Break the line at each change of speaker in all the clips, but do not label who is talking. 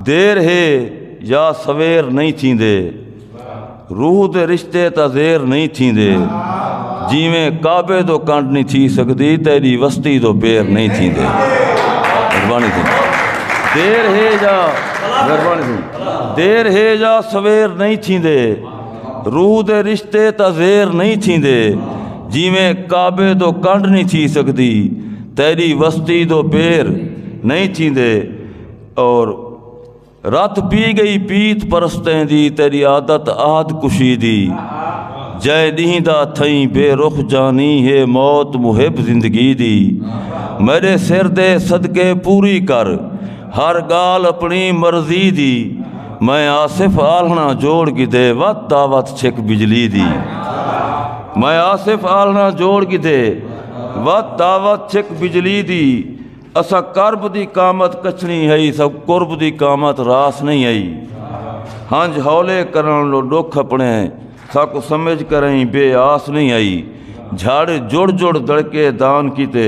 دیر ہے یا سویر نہیں تھیندے روح دے رشتے تا زیر نہیں تھیندے جیویں کعبے دو کنڈ نہیں تھی سکدی تیری وستی دو پیر نہیں تھیندے مہربانی تھی دیر ہے یا مہربانی تھی دیر ہے یا سویر نہیں تھیندے روح دے رشتے تا زیر نہیں تھیندے جیویں کعبے دو کنڈ نہیں تھی سکدی تیری وستی دو پیر نہیں تھیندے اور رت پی گئی پیت پرستیں دی تیری عادت عہد کشی دی جے ڈینہ دا تھئی بے رخ جانی ہے موت محب زندگی دی میرے سر دے صدقے پوری کر ہر گال اپنی مرضی دی میں آصف آلنا جوڑ کی دے وت دعوت چھک بجلی دی میں آصف آلنا جوڑ کی دے وت دعوت چھک بجلی دی اساں قرب دی قامت کچھنی ہئی سب قرب دی قامت راس نہیں ہئی ہنج ہولے کرن لو ڈوکھ اپنے ساکو سمجھ کریں بے آس نہیں ہئی جھاڑے جڑ جڑ دڑکے دان کیتے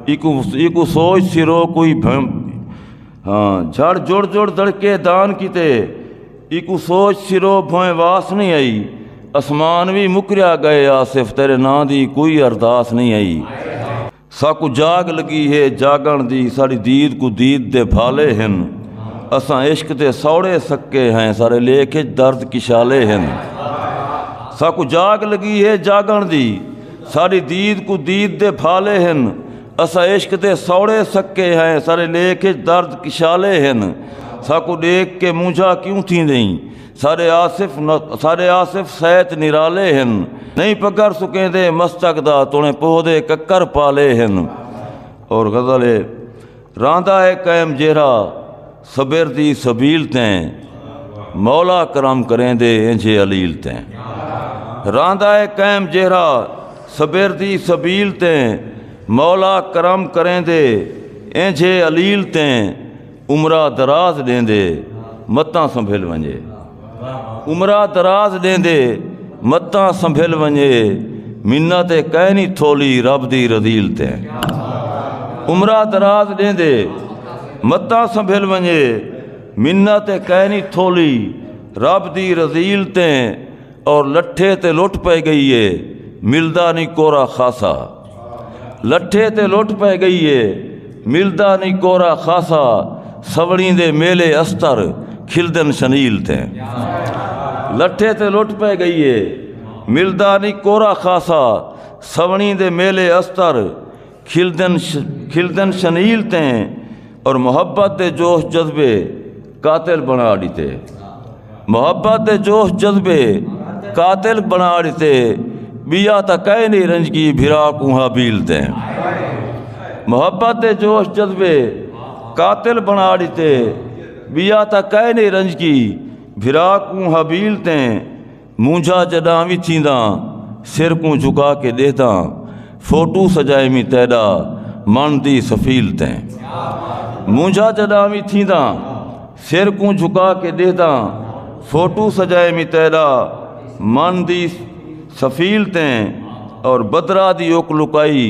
ایکو ایکو سوچ سرو کوئی بھم ہاں جھڑ جڑ جڑ دڑکے دان کیتے ایکو سوچ سرو بھویں واس نہیں ہئی اسمان بھی مکریا گئے آصف تیرے نام دی کوئی ارداس نہیں ہئی ساکوں جاگ لگی ہے جاگݨ دی ساݙی دید کوں دید دے بھالے ہن اساں عشق دے سوڑے سکے ہیں ساݙے لیکھ اچ درد کشالے ہن ساکوں جاگ لگی ہے جاگݨ دی ساݙی دید کوں دید دے بھالے ہن اساں عشق دے سوڑے سکے ہیں ساݙے لیکھ اچ درد کشالے ہن ساکوں ݙیکھ کے مونجھا کیوں تھیندیں سارے آصف سارے آصف سیت نرالے ہن نہیں پکر سکیں دے مستق دا تونے پوہ دے ککر پالے ہن اور غزل ہے راندا ہے قائم جیرا صبر دی سبیل تیں مولا کرم کریں دے انجھے علیل تیں راندا ہے قائم جیرا صبر دی سبیل تیں مولا کرم کریں دے انجھے علیل تیں عمرہ دراز ڈیندے متاں سنبھل ونجے عمرہ دراز ڈیندے متاں سنبھل ونجے منت تے کہہ نہیں تھولی رب دی رضیل تے عمرہ دراز ڈیندے متاں سنبھل ونجے منت تے کہہ نہیں تھولی رب دی رضیل تے اور لٹھے تے لٹ پہ گئی ہے ملدا نہیں کورا خاصا لٹھے تے لٹ پہ گئی ہے ملدا نہیں کورا خاصا سوڑی دے میلے استر کھلدن شنیل تے لٹھے تے لٹ پہ گئی ہے ملدا نہیں کورا خاصا سوڑی دے میلے استر کھلدن شنیل تے اور محبت دے جوش جذبے قاتل بنا ڈیتے محبت دے جوش جذبے قاتل بنا ڈیتے بیا تا کہے نہیں رنج کی بھرا کو حابیل تے محبت دے جوش جذبے قاتل بنا ڈیتے بیا تا کہے نہیں رنج کی بھرا کو حابیل تے مونجھا جڈاں وی چینداں سر کوں جھکا کے ڈیہداں فوٹو سجائے می تیڈا من دی سفیل تیں مونجھا جڈاں وی چینداں سر کوں جھکا کے ڈیہداں فوٹو سجائے می تیڈا من دی سفیل تیں اور بدرا دی اک لکائی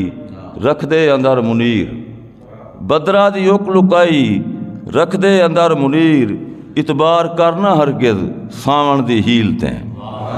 رکھ دے اندر منیر بدراں دی اک لکائی رکھدے اندر منیر اعتبار کرنا ہرگز ساوݨ دی ہیل تیں